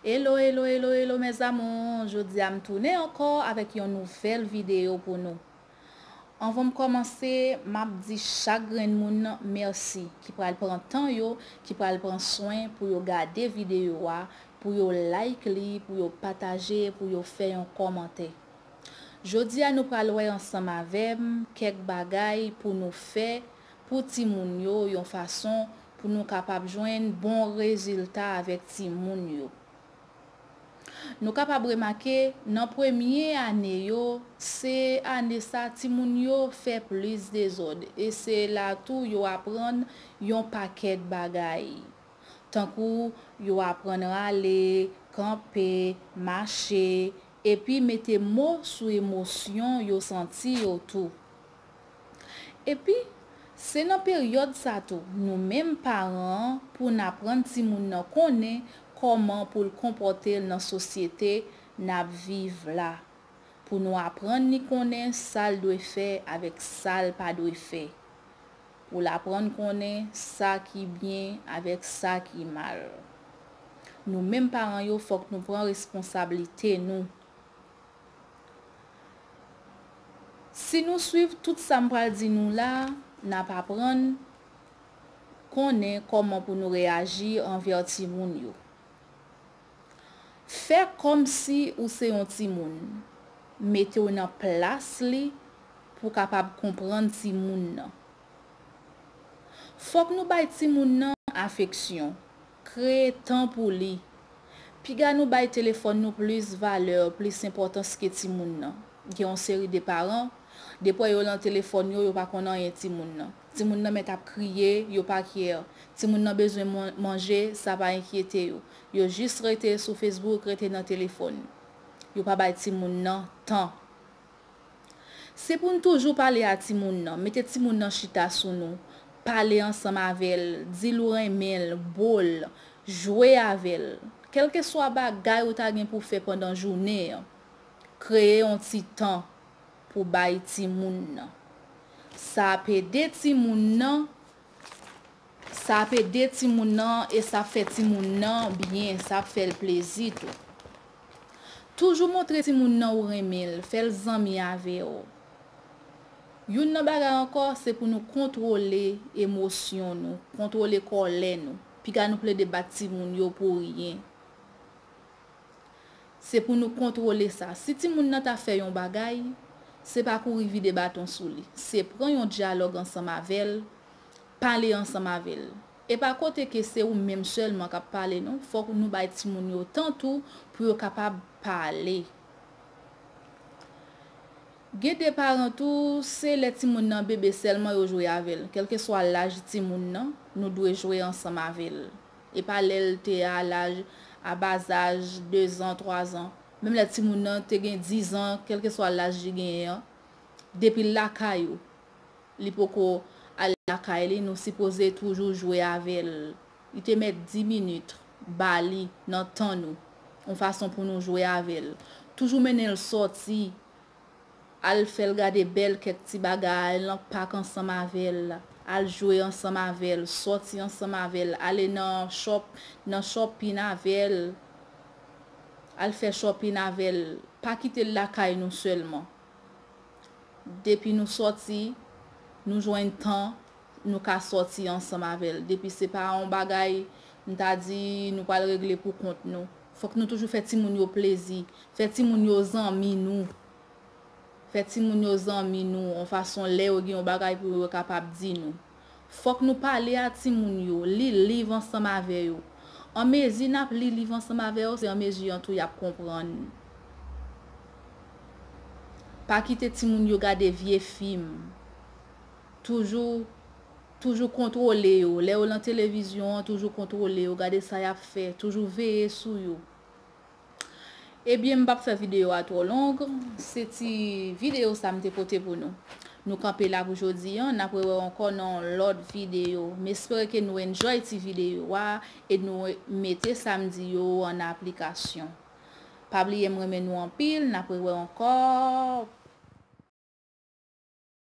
Hello hello hello hello mes amours jodia m tounen ankò avèk yon nouvèl video pou nou anvan m kòmanse map di chak grenn moun mèsi ki pral pran tan yo ki pral pran swen pou yo gade video a pou yo like li pou yo pataje pou yo fè yon kòmantè jodia nou pral wè ansanm avèm kèk bagay pou nou fè pou timoun yo yon fason pou nou kapab jwenn bon rezilta avèk timoun yo. Nou kapab remake nan premye ane yo, se ane sa timoun yo fè plis dezòd e se la tou yo aprann yon pakèt bagay. Tankou yo aprann rale, kanpe, mache, epi mete mo sou emosyon yo santi yo tou. Epi, se nan peryòd sa tou, nou menm paran an, pou n aprann timoun nan konnen kòman pou l konpòte l nan sosyete n ap viv la, pou nou aprann li konnen sa l dwe fè avèk sa l pa dwe fè, pou l aprann konnen sa ki byen avèk sa ki mal. Nou menm paran yo fòk nou pran responsablite nou. Si nou swiv tout sa m pral di nou la a, n ap aprann konnen kòman pou nou reyaji anvè timoun yo. Fè kòmsi ou se yon timoun. Mete w nan plas li pou w kapab konprann timoun nan. Fòk nou bay timoun nan afeksyon, Kreye tan pou li. Piga nou bay telefòn nou plis valè, plis enpòtans ke timoun nan. Gen yon seri de paran, depwè yo lan telefòn yo, yo pa konn anyen timoun nan. Timoun nan mèt ap kriye, yo pa care. Timoun nan bezwen manje, sa pa enkyete yo. Yo jis rete sou Facebook, rete nan telefòn. Yo pa bay timoun nan tan. Se pou n toujou pale a timoun nan, mete timoun nan chita sou nou, pale ansanm avè l, di l ou renmen l, bo l, jwe avè l. Kèlkeswa bagay ou ta gen pou fè pandan jounen an, kreye yon ti tan pou bay timoun nan. Sa ap ede timoun nan Sa ap ede timoun nan e sa ap fè timoun nan byen, sa ap fè l plezi tou. Toujou montre timoun nan ou renmen l, fè l zanmi avè w. Youn nan bagay ankò, se pou nou kontwole emosyon nou, kontwole kòlè nou. Piga nou plede bat timoun yo pou ryen. Se pou nou kontwole sa. Si timoun nan ta fè yon bagay, se pa kouri vide baton sou li. Se pran yon dyalòg ansanm avè l, pale ansanm avè l. E pa kote ke se ou menm sèlman k ap pale non. Fòk nou bay timoun yo tan tou pou yo kapab pale. Gen de paran tou, se lè timoun nan bebe sèlman yo jwe avè l. Kèlkeswa laj timoun nan, nou dwe jwe ansanm avè l. e pa lè l te a laj a ba zaj dezan twazan menm lè timoun nan te gen dizan kèlkeswa laj li genyen an depi l lakay ou li poko al lakay li nou sipoze toujou jwe avè l li te mèt di minit ba li nan tan nou yon fason pou nou jwe avè l toujou mennen l sòti Al fèl gade bèl kèk ti bagay lan pak ansanm avèl, al jwe ansanm avèl, sòti ansanm avèl, ale nan shop nan shopping avèl, al fè shopping avèl, pa kitel lakay nou sèlman. Depi nou sòti, nou jwenn tan nou ka sòti ansanm avè l. Depi se pa yon bagay m ta di nou pral regle pou kont nou. Fòk nou toujou fè timoun yo plezi. Fè timoun yo zanmi nou. Fè timoun yo zanmi nou yon fason lè yo gen yon bagay pou yo yo kapab di nou. Fòk nou pale a timoun yo, li liv ansanm avè yo. An mezi n ap li liv ansanm avè yo se an mezi an tou y ap konprann. Pa kite timoun yo gade vye fim. toujou toujou kontwole yo lè yo lan televizyon an toujou kontwole yo gade sa yap fè toujou veye sou yo ebyen m pap fè video a twò long se ti video sa m te pote pou nou nou kanpe la pou jodi an nap rewè w ankò nan yon lòt video m espere ke nou enjoy ti video a e nou mete sa m di yo an aplikasyon pa bliye m renmen nou anpil nap rewè w ankò.